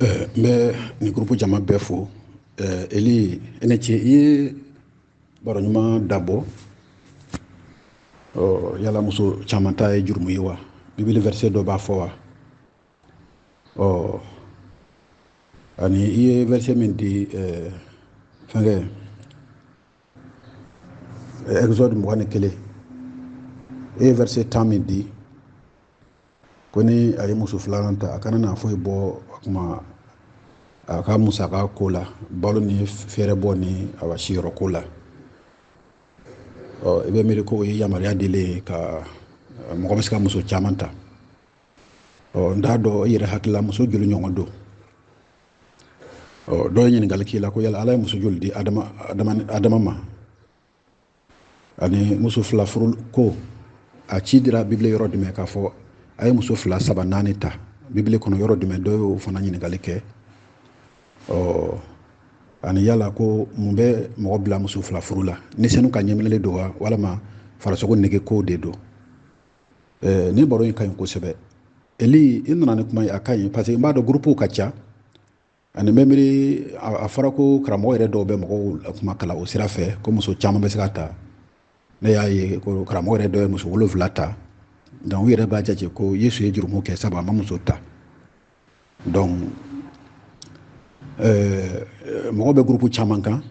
Eh, n bɛ nin gurupu jama bɛɛ fo eh, eli i ni ce i ye baro ɲuman dabɔ oh, yala muso caman ta ye jurumu ye wa bibili verset dɔ b'a fɔ wa oh, ani i ye verset min di eh, fɛnkɛ exode mugan ni kelen i ye verset tan min di ko ni a ye muso filanan ta a kana na foyi bɔ a kuma a ka musaka ko la balo ni fɛɛrɛbɔ ni a ka siyɔrɔ ko la ɔ i bɛ miiri ko o ye yamaruya dilen ye ka mɔgɔ bɛ se ka muso caman ta ɔ n t'a dɔn i yɛrɛ hakili la muso joli ɲɔgɔn don ɔ dɔ ye ɲininkali k'i la ko yala ala ye muso joli di adama ma ani muso fila furu ko a ci dira bibili yɔrɔ jumɛn k'a fɔ a ye muso fila saba naani ta bibili kɔnɔ yɔrɔ jumɛn dɔ y'o fana ɲininkali kɛ ɔ ani yala ko mun bɛ mɔgɔ bila muso fila furu la ni senu ka ɲɛminɛli don wa walama farasogo nege kow de don eh, nin baro in ka ɲi kosɛbɛ eli i nana ni kuma ye a ka ɲi parce que n b'a dɔn gurupuw ka ca ani bɛ miiri a fɔra ko karamɔgɔ yɛrɛ dɔw bɛ mɔgɔw kuma kalan o sira fɛ ko muso caman bɛ se ka ta ne y'a ye ko karamɔgɔ yɛrɛ dɔ ye muso wolonwula ta donc u yɛrɛ b'a jate ko yesu ye jurumu kɛ sabu a ma muso ta donc euh, mɔgɔ bɛ gurupu caman kan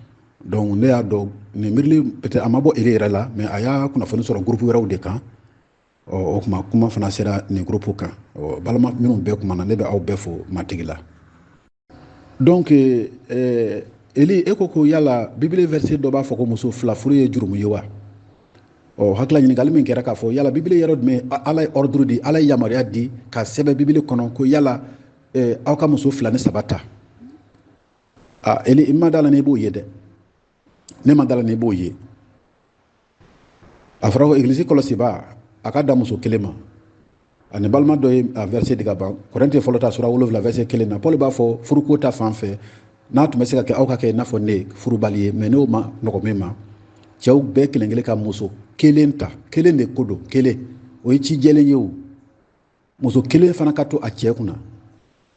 donc ne y'a dɔn nin miirili peut-être a ma bɔ eli yɛrɛ la mais a y'a kunnafoni sɔrɔ gurupu wɛrɛw de kan o tuma kuma fana sera nin gurupu kan balima minnu bɛɛ kumana ne bɛ aw bɛɛ fo matigi la donc euh, euh, eli e ko ko yala bibili verset dɔ b'a fɔ ko muso fila furu ye jurumu ye wa ɔ hakili la ɲininkali min kɛra k'a fɔ yala bibili yɔrɔ jumɛn ala ye ɔriduru di ala ye yamaruya di ka sɛbɛn bibili kɔnɔ ko yala eh, aw ka muso fila ni saba ta a eli n ma da a la n'i b'o ye dɛ ne ma da a la n'i b'o ye a fɔra ko egilisi kɔlɔsibaa a ka dan muso kelen ma ani balima dɔ ye a verset di ka ban korɛnte fɔlɔ ta sura wolonfila verset kelen na paul b'a fɔ furuko ta fan fɛ n'a tun bɛ se ka kɛ aw ka kɛ i n'a fɔ ne furubali ye mais n'o ma nɔgɔ min ma cɛw bɛɛ kelen kelen ka muso kelen ta kelen de ko don kelen o ye ci jɛlen ye o muso kelen fana ka to a cɛ kunna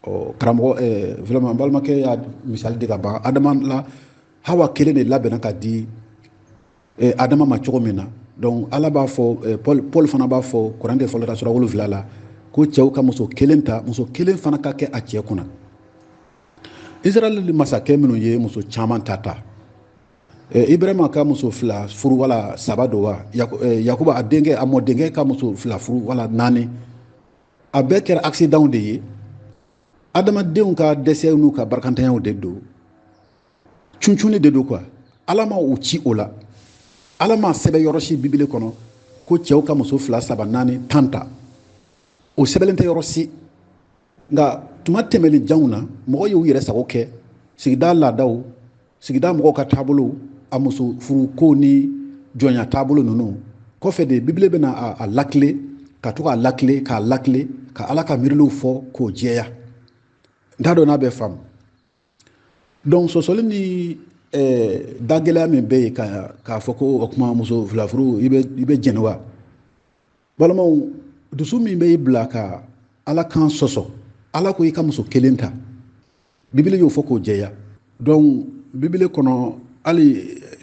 ɔ karamɔgɔ eh, vraiment balimakɛ y'a misali di ka ban adama la hawa kelen de labɛnna ka di eh, adama ma cogo min na donc ala b'a fɔ eh, paul, paul fana b'a fɔ korɛnte fɔlɔ ta sura wolonfila la ko cɛw ka muso kelen ta muso kelen fana ka kɛ a cɛ kunna israɛl masakɛ minnu ye muso caman ta ta eh, ibrahima ka muso fila furu wala saba don wa yakuba eh, a denkɛ a mɔdenkɛ ka muso fila furu wala naani a bɛɛ kɛra akisidanw de ye adamadenw ka dɛsɛ n'u ka barakantanyaw de don cuncunni de don quoi ala ma u ci o la ala ma sɛbɛn yɔrɔ si bibele kɔnɔ ko cɛw ka muso fila saba naani tan ta o sɛbɛnlen tɛ yɔrɔ si nka tuma tɛmɛnen janw na mɔgɔ y'u yɛrɛ sago kɛ sigida laadaw sigida mɔgɔw ka taabolo a muso furu ko ni jɔnya taabolo ninnu kɔfɛ de bibile bɛna a lakile ka to k'a lakile k'a lakile ka ala ka miiriliw fɔ k'o jɛya n t'a dɔn n'a bɛ faamu donc sɔsɔli ni eh, dagɛlɛya min bɛ yen k'a fɔ ko o kuma muso fila furu i bɛ jɛni wa balimaw dusu min bɛ i bila ka ala kan sɔsɔ ala ko i ka muso kelen ta bibele y'o fɔ k'o jɛya donc bibele kɔnɔ hali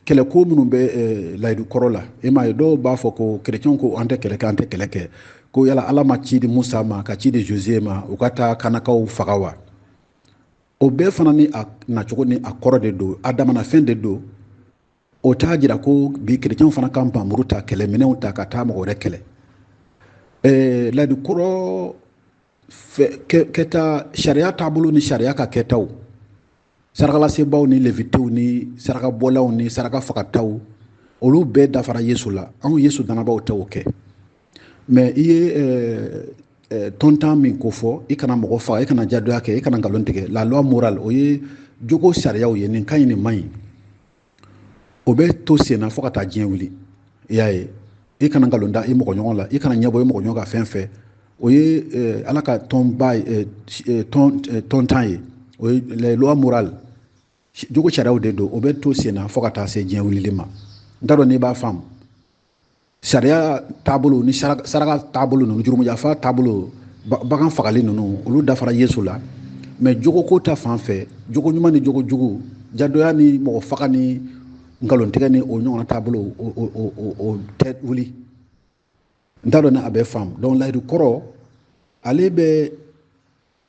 kɛlɛko minnu bɛ eh, layidu kɔrɔ la e m'a ye dɔw b'a fɔ ko kerecɛnw ko an tɛ kɛlɛ kɛ an tɛ kɛlɛ kɛ ko yala ala ma ci di musa ma ka ci di josué ma u ka taa kanaankaw faga wa o bɛɛ fana ni a nacogo ni a kɔrɔ de don a damana fɛn de don o t'a jira ko bi kerecɛnw fana ka npanmuru ta kɛlɛminɛnw ta ka taa mɔgɔ wɛrɛ kɛlɛ eh, layidu kɔrɔ kɛta sariya taabolo ni sariya ka kɛtaw sarakalasebaaw ni levitew ni sarakabɔlaw ni saraka fagataw olu bɛɛ dafara yesu la anw yesu danabaw tɛ o kɛ mais i ye eh, eh, tɔntan min ko fɔ i kana mɔgɔ faga i kana jadoya kɛ i kana nkalon tigɛ la loi morale o ye jogo sariyaw ye nin ka ɲi nin man ɲi o bɛ to sen na fo ka taa diɲɛ wuli i y'a ye i kana nkalon da i mɔgɔ ɲɔgɔn la i kana ɲɛbɔ i mɔgɔ ɲɔgɔn ka fɛn fɛ o ye eh, ala ka tɔnba ye eh, eh, tɔntan ye o ye les lois morales jogo sariyaw de don o bɛ to sen na fo ka taa se diɲɛ wulili ma n t'a dɔn n'i b'a faamu sariya taabolo ni saraka taabolo ninnu jurumuyafa taabolo bagan fagali ninnu olu dafara yesu la mais jogoko ta fan fɛ jogo ɲuman ni jogo jugu jadoya ni mɔgɔ faga ni nkalontigɛ ni o ɲɔgɔnna taabolo o tɛ wuli n t'a dɔn ni a bɛ faamu donc layidu kɔrɔ ale bɛ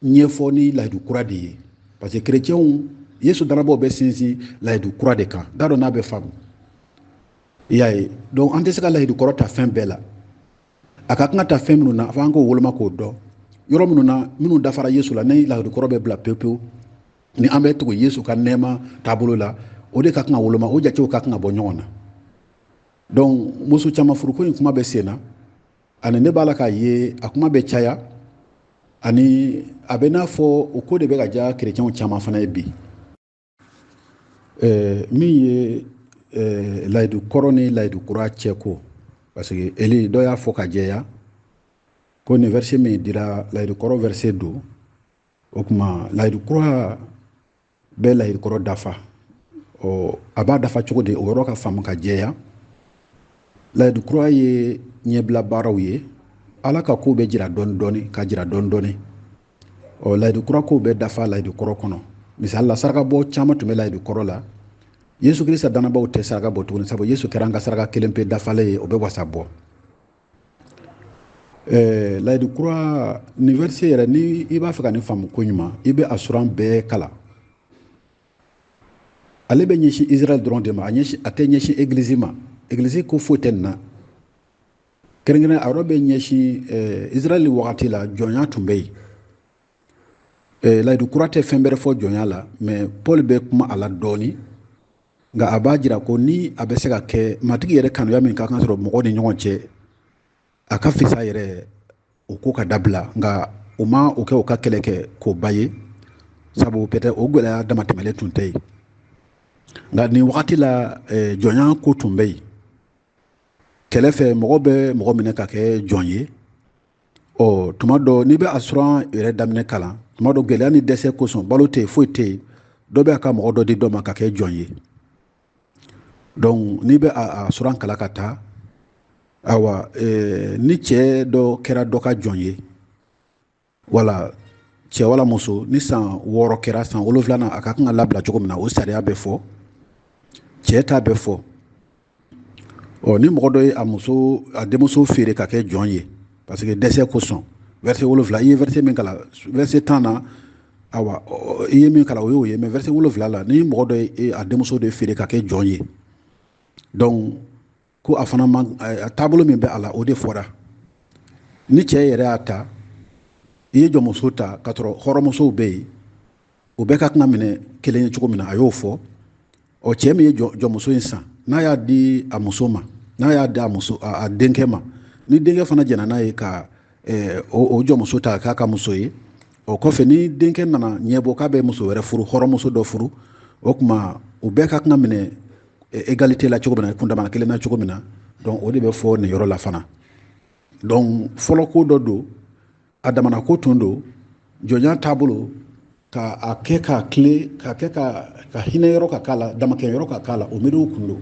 ɲɛfɔ ni layidu kura de ye parce que kerecɛnw yesu danabaw bɛ sinsin layidu kura de kan n t'a dɔn n'a bɛ faamu i y'a ye donc an tɛ se ka layidu kɔrɔ ta fɛn bɛɛ la a ka kan ka ta fɛn minnu na fo an k'o woloma k'o dɔn yɔrɔ minnu na minnu dafara yesu la ni layidu kɔrɔ bɛ bila pewu pewu ni an bɛ tugu yesu ka nɛɛma taabolo la o de ka kan ka woloma o jatew ka kan ka bɔ ɲɔgɔn na donc muso caman furuko in kuma bɛ sen na ani ne b'a la k'a ye a kuma bɛ caya ani a bɛ n'a fɔ o ko de bɛ ka diya kerecɛnw caman fana ye bi eh, min ye eh, layidu kɔrɔ ni layidu kura cɛ ko parce que eli dɔ y'a fɔ ka jɛya ko nin verset min dira layidu kɔrɔ verset don o tuma layidu kura bɛ layidu kɔrɔ dafa ɔ a b'a dafa cogo di o yɔrɔ ka faamu ka jɛya layidu kura ye ɲɛbila baaraw ye ala ka kow bɛ jira dɔɔni dɔɔni ka jira dɔɔni dɔɔni ɔ layidu kura kow bɛ dafa layidu kɔrɔ kɔnɔ misali la sarakabɔ caman tun bɛ layidu kɔrɔ la yesu kirista dannabaaw tɛ saraka bɔ tuguni sabu yesu kɛra an ka saraka kelen pe dafalen ye o bɛ wasa bɔ Eh, layidu kura nin verset yɛrɛ ni i b'a fɛ ka nin faamu ko ɲuman i bɛ a suran bɛɛ kalan ale bɛ ɲɛsin israel dɔrɔn de ma a ɲɛsin a tɛ ɲɛsin egilizi ma egilizi ko foyi tɛ nin na kɛrɛnkɛrɛn a yɔrɔ bɛ ɲɛsin eh, israel wagati la jɔnya tun bɛ yen eh, layidu kura tɛ fɛn bɛrɛ fɔ jɔnya la mais paul bɛ kuma a la dɔɔni nka a b'a jira ko ni a bɛ se ka kɛ matigi yɛrɛ kanuya min ka kan sɔrɔ mɔgɔ ni ɲɔgɔn cɛ a ka fisa yɛrɛ o ko ka dabila nka o ma o kɛ o ka kɛlɛ kɛ koba ye sabu peut-être o gɛlɛya damatɛmɛlen tun tɛ yen nka nin wagati la eh, jɔnya ko tun bɛ yen kɛlɛ fɛ mɔgɔ bɛ mɔgɔ minɛ ka kɛ jɔn ye ɔ tuma dɔ n'i bɛ a suran yɛrɛ daminɛ kalan tuma dɔ gɛlɛya ni dɛsɛ kosɔn balo tɛ yen foyi tɛ yen dɔ bɛ a ka mɔgɔ dɔ di dɔ ma ka kɛ jɔn ye donc n'i bɛ a suran kalan ka taa awa eh, ni cɛ dɔ kɛra dɔ ka jɔn ye wala cɛ wala muso ni san wɔɔrɔ kɛra san wolonwulanan a ka kan ka labila cogo min na o sariya bɛ fɔ cɛ ta bɛ fɔ ɔ ni mɔgɔ dɔ ye a muso a denmuso feere ka kɛ jɔn ye parce que dɛsɛ kosɔn verset wolonwula i ye verset min kalan verset tan na awa i ye min kalan o y'o ye mais verset wolonwula la ni mɔgɔ dɔ ye e, a denmuso de feere ka kɛ jɔn ye donc ko a fana man a taabolo min bɛ a la o de fɔra ni cɛ yɛrɛ y'a ta i ye jɔnmuso ta ka sɔrɔ hɔrɔnmusow bɛ yen o bɛɛ ka kan ka minɛ kelen ye cogo min na a y'o fɔ ɔ cɛ min ye jɔnmuso in san n'a y'a di a muso ma n'a y'a di a muso a denkɛ ma ni denkɛ fana jɛnna n'a ye ka eh, o jɔnmuso ta k'a k'a muso ye o kɔfɛ ni denkɛ nana ɲɛbɔ k'a bɛ muso wɛrɛ furu hɔrɔnmuso dɔ furu o tuma u bɛɛ ka kan minɛ égalité eh, la cogo min na kundamana kelen na cogo min na donc o de bɛ fɔ nin yɔrɔ la fana donc fɔlɔ ko dɔ don a damana ko tun don jɔnya taabolo ka a kɛ ka tilen ka kɛ ka hinɛ yɔrɔ ka k'a la damakɛɲɛ yɔrɔ ka k'a la o miiriw kun don